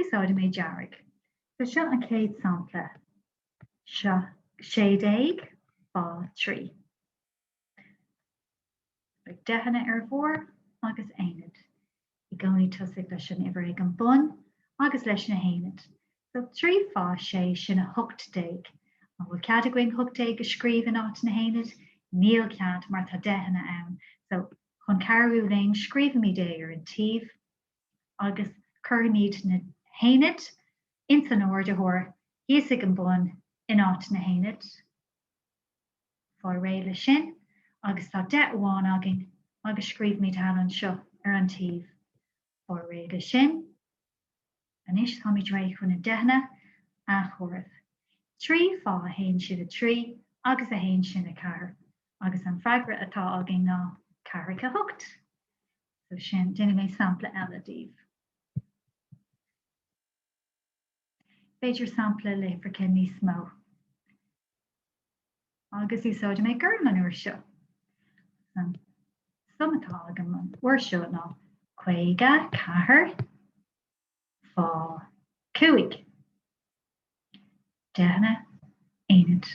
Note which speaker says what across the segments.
Speaker 1: Úsáidfidh mé dearg. So seo an chéad sampla seo, 16, fá 3. Beidh deicheanna ar bharr agus aonad i gcónaí tosaigh leis an uimhir ag an bun agus leis na haonaid. So 3 fá 6 sin a 18. An bhfuil cead againn 18 a scríobh in áit na haonaid? Níl cead mar tá deicheanna ann. So chun cabhrú linn scríobhaimid é ar an taobh agus cuirfimid na haonaid ins an ardaitheoir thíos ag an bun in áit na haonaid. Faigh réidh le sin agus tá deich amháin againn agus scríobhaimid thall anseo ar an taobh. Faigh réidh le sin. Anois táimid réidh chun na deicheanna a chomhaireamh. Trí fá a haon sin a trí agus a haon sin a ceathair agus an freagra atá againn ná ceathracha a hocht. So sin, déanfaidh mé sampla eile daoibh. B'fhéidir sampla le freagra níos mó. Agus úsáidfidh mé gorm an uair seo. An sum atá agam an uair seo ná 54 fá cúig. Deicheanna, aonaid.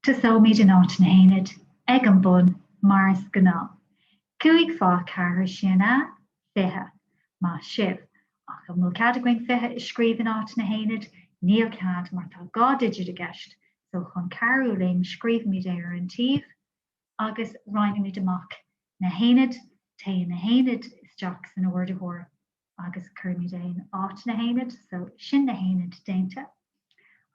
Speaker 1: Tosóimid in áit na haonaid, ag an bun, mar is gnáth. Cúig fá cheathair, sin a, fiche. Maith sibh. Ach an bhfuil cead againn fiche a scríobh in áit na haonaid? Níl cead, mar tá dhá digit i gceist, so chun cabhrú linn, scríobhaimid é ar an taobh, agus roinnimid amach na haonaid, téann na haonaid isteach san ardaitheoir. agus cuirimid é in áit na haonaid, so sin na haonaid déanta,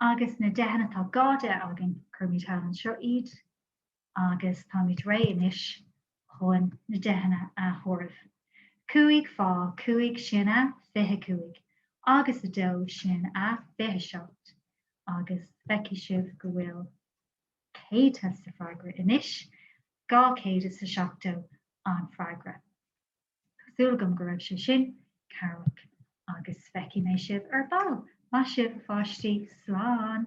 Speaker 1: agus na deicheanna, tá dhá deich againn, cuirimid thall anseo iad, agus táimid réidh anois chun na deicheanna a chomhaireamh. Cúig fá chúig sin a fiche a cúig, agus a dó sin a fiche a seacht, agus feicfidh sibh go bhfuil céadta sa freagra anois, dhá chéad is a seachtó an freagra. Tá súil agam go raibh sé sin cabhrach agus feicfidh mé sibh ar ball. Maith sibh, a pháistí. Slán!